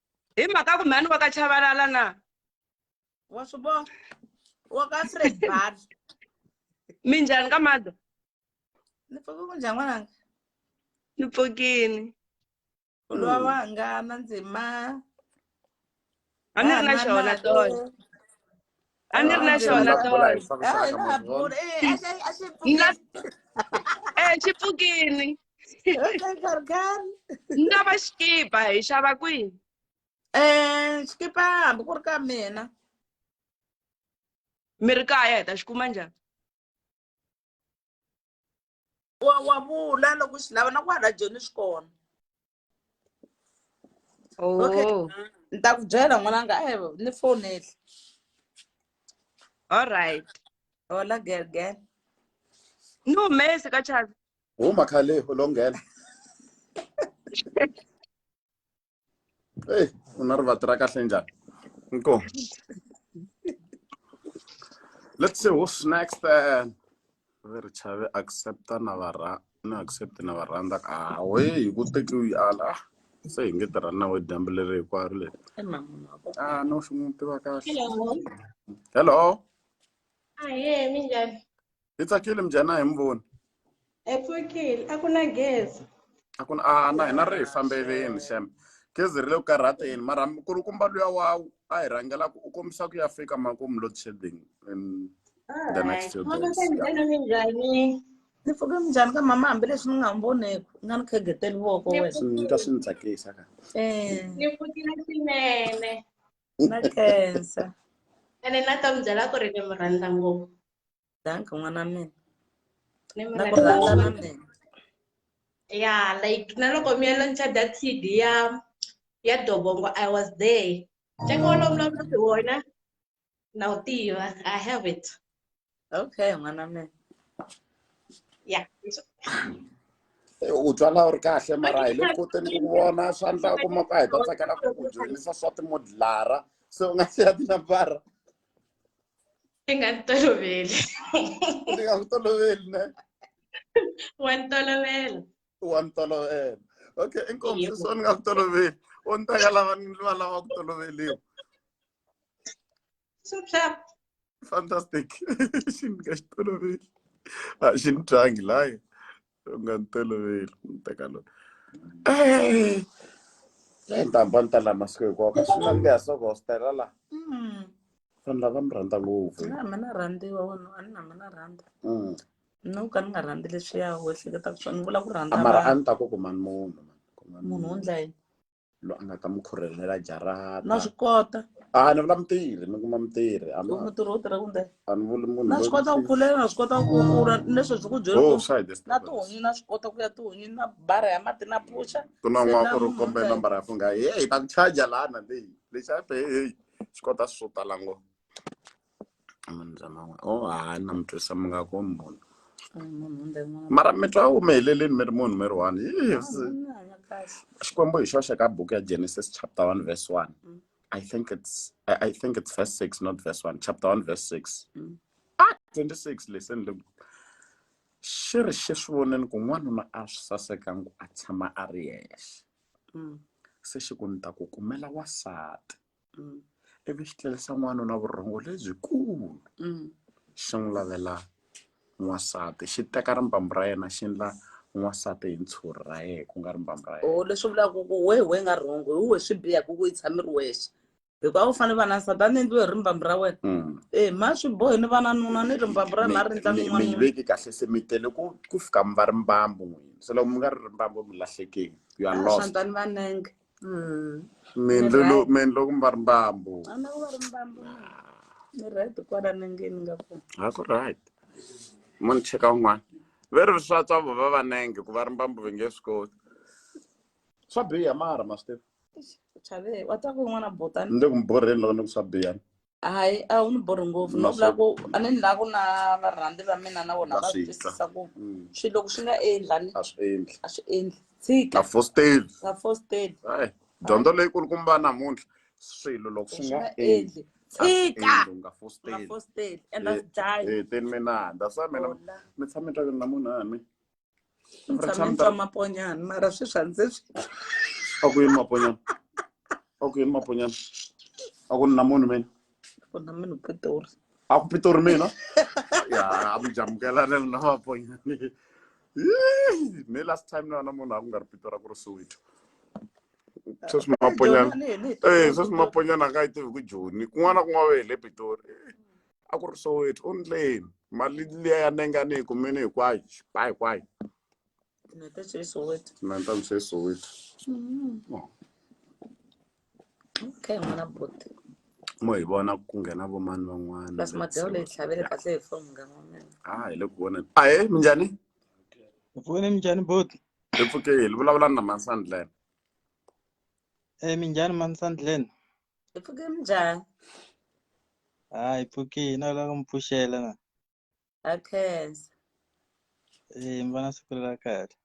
hi mhaka ku mhani wa ka chavalala na wa swi vona wa ka fred bar minjhani ka mado ni pfuke ku njhani n'wananga ni pfukini u lowa wa nga na ndzima a ni ri na xona tona Anir na xona tona. Hayi na ha bula. Eh, a xi a xi pfukile. Eh, xi pfukile. Karikari. Na va xikipa hi xava kwihi? Eh, xikipa hambi ku ri ka mina. Mi ri kaya hi ta xi kuma njhani? Wa wa vula loko xi lava na ku hala joni xi kona. okay Oh. ni ta ku byela n'wananga a ni fonele All right. hola girl girl Ni humesi ka Chavi. huma khale u lo nghena eyi u na rivati ra kahle njhani inkomu let's see who's next uh, ve ri chave accepta na va ra na accept na va rhandza ka hawe hi ku tekiwi ala ah, se hi nge tirhani na we dyambu leri hinkwaro leri a ah, no swi n'wi tiva kahle hello ahe ah, minjhani hi tsakile minjhani a hi mi voni hi pfukile a ku na gezi a ku na a na hina ri hi fambeleni xem gezi ri le ku karhateni mara kulukumba luya wawu a hi rhangela ku u kombisa ku ya fika makumu load shedding in the next few days ni pfuke minjhani ka mama hambileswi ni nga n'wi voneki u nga ni khegeteli voko wena ka swi ni tsakisa ka eh. ni pfukile swinene na khensa ene na ta mi byela ku ri ni mi rhandza ngopfu danka n'wana wa mina Ni na ku rhandza na mina mina ya like na loko mi ya launcha that cd ya ya dobongo i was there ntsengo wolowo mi lavaka hi wona na wu tiva i have it okay n'wana wa mina ya Eh, u twala u ri kahle mara hi le koteni ku vona swa ndla kuma ka hi ta tsakela ku ku dyondzisa swa timodelara se u nga siya tinambara ti nga ti toloveli ti nga ku toloveli ne wa ni tolovela wa ni tolovela okay inkomiso so ni nga ku toloveli o ni ta ka lava ni va lava ku toloveliwa fantastic xi ni nga xi toloveli a xi ni twangi layo u nga ni toloveli ni teka lona ntambha ni ta laha masiku hinkwawo ka swi nandziha so gostela laha mm. vanhu lava mi rhandza ngopfu na mi na rhandziwa wena a ni na mi na rhandza mm. no ka ni nga rhandzi leswiya wehleketaka swona ni vula ku rhandza mara a ni ta ku kumani munhu munhu wo ndla yini loyi a nga ta mi khurhelela jarata na swi kota a ni vula mutirhi ni kuma mutirhi a ni- mutirhi wo tirha kunde a ni vuli munhu na swi loyi- kota ku pfulela na swi kota ku kula leswi byi ku byela Oh, ku swa hi na disturbance. tihunyi na swi kota ku ya tihunyi na bara ya mati na puxa ku na n'wana ku ri Swi kombe lava nambara ya fungha heyi ta ku charger lana leyi lexi a pe heyi swi kota swo tala ngo munhu bya man'we o oh, ha na mi twisa mi nga ko munhu mara mi twa u mi heleleni mi ri munhu mi ri one xikwembu hi xoxe ka buku ya genesis chapter one verse one mm. i think it's i, I think it's verse six not verse one chapter one verse six mm. ah 26 leseni le xi ri xi swi voneni ku n'wanuna a swi sasekangi a tshama a ri yexe mm. se xi ku ni ta ku kumela wasati mm. ivi xi tlerisa n'wanuna vurhongo lebyikulu mm. xi n'wi lavela n'wansati xi teka rimbambu ra yena xi ndla n'wansati hi ntshuri ra yena ku nga rimbambu ra yena oh, leswi vulaka ku wehe we nga rhongo hi we swi biha ku ku yi tshami ri wexe hikuva u fanele va na nsati a ni endliwe hi rimbambu ra wena mm. e ma swi bohi ni vananuna ni rimbambu ra na ri ndla mi yi veki kahle se mi tele ku ku fika mi va rimbambu n'wini se loko mi nga ri rimbambu mi lahlekile you are lost vanenge Mm. Mindlu Right. lo- mindlu ku mba ri mbambu A na ku va ri mbambu na. Ni right kwala nengeni nga ku. a ku right mo ni cheka un'wana ve ri swa tswa vo va vanenge ku va ri mbambu ve nge swi koti swa biha mara masitefu Chave, wa ta ku n'wana botani. ni le ku mborheni loko ni ku swa biha hayi a wu ni borhi ngopfu no vula ku a ni la ku na varhandzi va mina na vona va swi twisisa ku mm. swilo loko swi nga endla ni a swi endli a swi endli tshika a fosteli a fosteli hayi dyondzo leyi kulukumba namuntlha swilo loko swi nga endli tshika u nga fosteli and that's dying eh, eh, teni mina that's why mina mi tshame twa na munhu a mi ni Ra tshame ni tshama- twa maponyana mara swi swa ndzi swi a ku yini maponyana a ku yini maponyana a ku na munhu mina pfuna munhu pitori a ku pitori mina ya a mi jamukelane na maponyana Yee, ne last time na na munhu a ku nga ri pitori a ku ri soweto sweswi maponyana Eh, sweswi maponyana a nga yi tivi ku joni kun'wana na kun'wana va hi le pitori a ku ri soweto u ndleni mali liya ya nenga ni yi kumini hinkwayo xipa hinkwayo na ta swe soweto na ni ta mi se soweto Oh. okay n'wana buti mo hi vona ku nghena vomani van'wana plus madeo leyi tlhavele kahle hi foni munghana wa mina a hi le ku voneni ahe minjhani Mpfuni minjhani boti? hi pfukeli vulavula na mansandlene Eh minjhani Mansandlen? Hi pfuke njhani? Ah, hi pfukile na lava mi pfuxela na. Ha khensa. Eh, mi va na siku la kahle.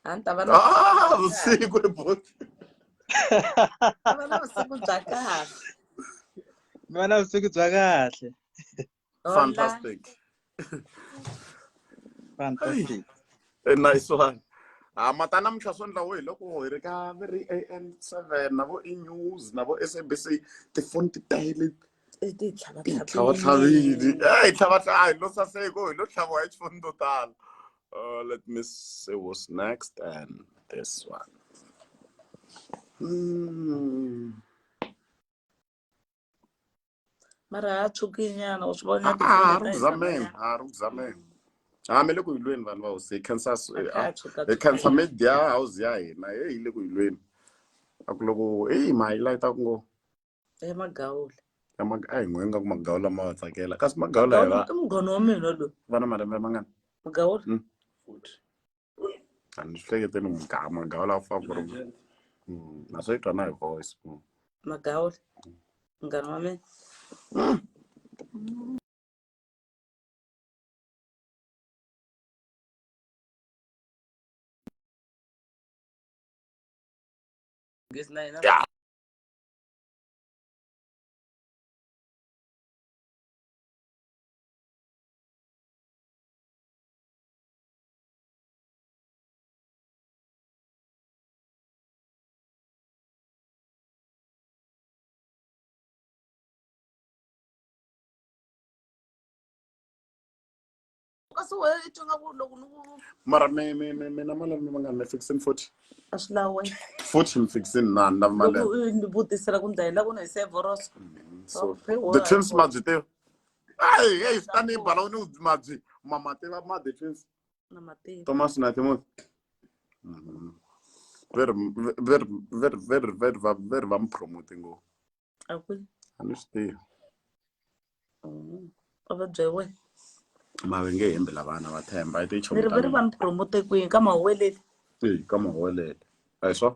A ni ta va na Ah, vusiku ri bote. ta va na vusiku bya kahle. Mi va na vusiku bya kahle. Hola. Fantastic. Fantastic. A nice one. Ah, mata namuntlha swo ndlawo hi loko hi ri ka va ri am seven na vo e news na vo sabc tifoni ti tele I ti tlhava ti tlhava tlhavile hi tlhava tlhava hi lo saseko hi lo tlhaviwa hi tifoni to tala Uh, let me see what's next and this one Mm. mara ha tshuki nyana u swi vona Ah, ah, ha ri ku zameni ha ri ku zameni ha mi le ku yilweni vanhu va hosi hi khensa s- eh, ah, hi khensa media house ya hina he hi le ku yilweni a ku loko eyi ma yi layita ku ngo ya magawula ya mag- a hi n'we nga ku magawula ma wa tsakela kasi magawula hi va i mugoni wa mina loyi va na malembe mangani magawula Mm. a ni swi hlekete ni mugama magawula a famba ku ri Mm, na swi twa na hi voice Mm. magawula munghana wa mina Gezi na yena Yeah. kasi wena i twa nga ku loko ni ku mara mi mi mi mina malembe ma nga ni fixin forty a swi lawe forty ni fixin na ni lava malembe ni vutisela ku ndlayela ku na hi sevoroso mm, so the twins ma byi tiva Ai, ei, swi ta ni bala u ni mabyi mamatela ma defense na matiko thomas na timothy Mhm. very very very very very va very va mi promote ngopfu a ku a ni swi tivi Mm. a va byela wena mave nge hembi la vana va themba i ni ri va ri va tichomi mi promote kwini ka mahoweleli ka mahowelele a hi swa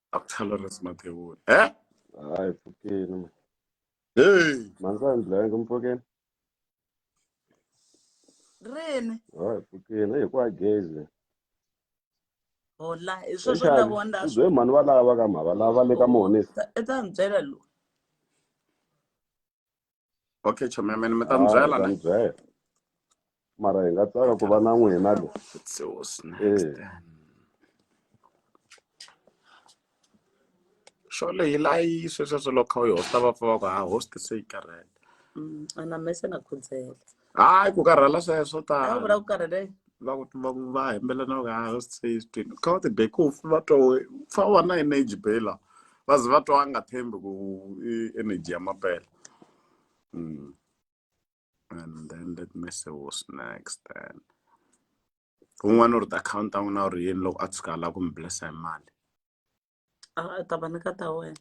Doctor Lawrence Mathebula. Eh? Hayi mfokeni man. Hey, Mansandla yanga mfokeni. rini Hayi mfokeni hey kwa gezi. hola hi sweswo ni lavo ni Uzwe mhani va lava ka mhava lava le ka mhonisi. ta ni byela loyi okay chome mene mi ta mi byela ne byela mara hi nga tsaka ku va na n'wina lo xole hi layi swesweswo loko kha u yi hosta va pfa va ku ha host se yi karhele mm, ana mese na khudzela hayi ku karhala sweswo swo tala vula ku karhele va ku va ku va hembela na ku hayi host says to you kha va ti be ku va twa we fa wa na energy bela va ze va twa a nga thembi ku i energy ya mapela mm. and then let me see what's next then un'wana u ri ta akhawunti ta n'wina u ri yini loko a tshuka a lava ku mi blessa hi mali Ah, ta va ni ka ta wena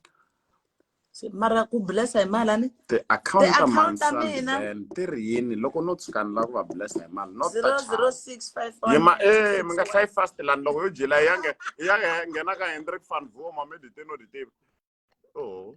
Se, mara ku blessa hi mali a ni ti-account ta Ti-account ta mina. mansandel ti ri yini loko no tshuka ni lava ku va blessa hi mali not zero touch zero six five one yima e mi nga hlayi fast lani loko yo jela yange yange nghena ka hendrik van voma mi dite no ditivi o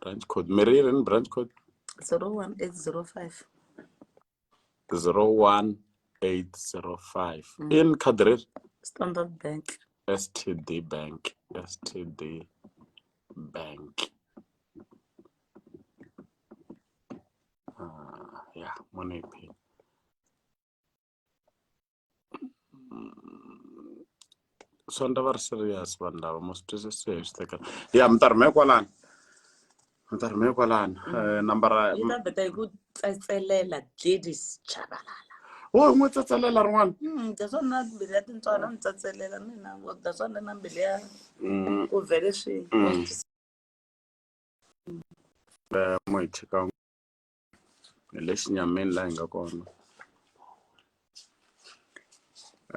branch code meriren branch code 01805 01805 mm. in kadrir standard bank std bank std bank uh, yeah money pay swandla va ri serious vanhu lava mo swi twisisiwe hi swi tekela ya mi ta rhumela kwalani mi ta rhumela kwalani mm. eh, nambara yi ta vheta hi ku tsetselela gladys chabalala wo hi n'wi tsetselela rin'wana mm, daswona mbili ya tintswana mi tsetselela mina ngo daswona na mbili ya mm. ku vhele swi eh, mo hi cheka ni le xinyamini laha hi nga kona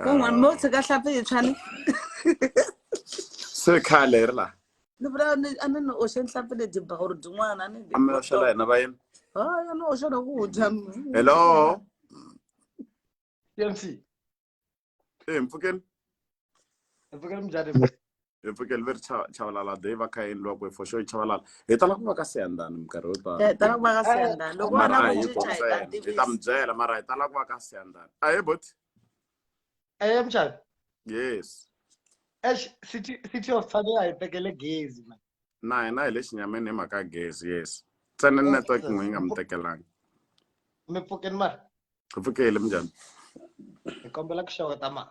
kun'wana mo tshika hlapi yi tshwani se khale hi ri laha ni vula ni a ni ni oxe nhlapi leti ba or din'wana a ni a mi oxela hina vayeni haya ni oxela ku dya hello Siyamsi. ee mpfukeni mpfukeni mjani mpfukeni ve ri chavalala de va kha endliwa kwe for sure chavalala hi tala ku va ka siyandani minkarhi yo tala eh, tala ku va ka siyandani loko va na ku cinca hi ta hi ta mi byela mara hi tala ku va ka siyandani a he boti eye eh, mjani yes ex city city of tshwane a hi tekele gezi man na hina hi le xinyameni hi mhaka gezi yes ntsena network n'we yi nga mi tekelanga mi pfukeni mara ku pfukele minjhani hi kombela ku xeweta ma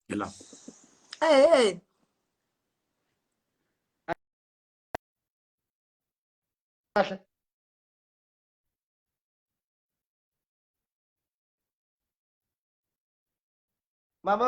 hi la ehe kahle mama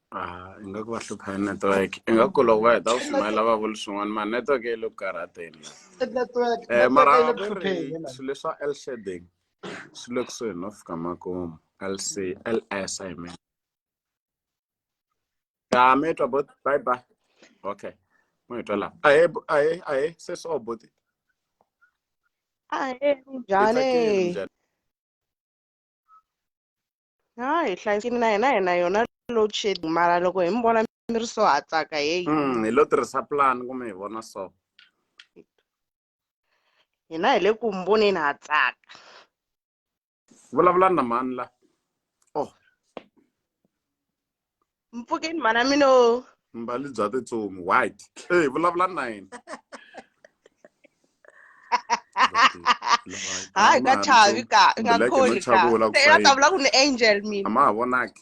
Ah, ingaku va hlupha hi network ingaku loko va heta ku shumayela va vuli swin'wana ma network yi le ku karhateni network um mara va ku ri swilo leswa l shading swi le kusuhi no fika makumu lc ls i mean ya mi twa bot bye bye okay mo hi twa laha ahe ahe ahe se so boti ahe njhani ha hi hlayisekile na hina hi na yona load shedding mara loko hi mi vona mi ri so ha tsaka heyi mm, hi lo tirhisa plan kumbe hi vona so hina hi le ku mi voneni ha tsaka vulavulani na mani la oh mpfukeni mhana mina o mbali bya titsumi white ey vulavula na yena hayi ka chavi ka nga kholi ka ta vula ku ni angel mina a ma ha vonaki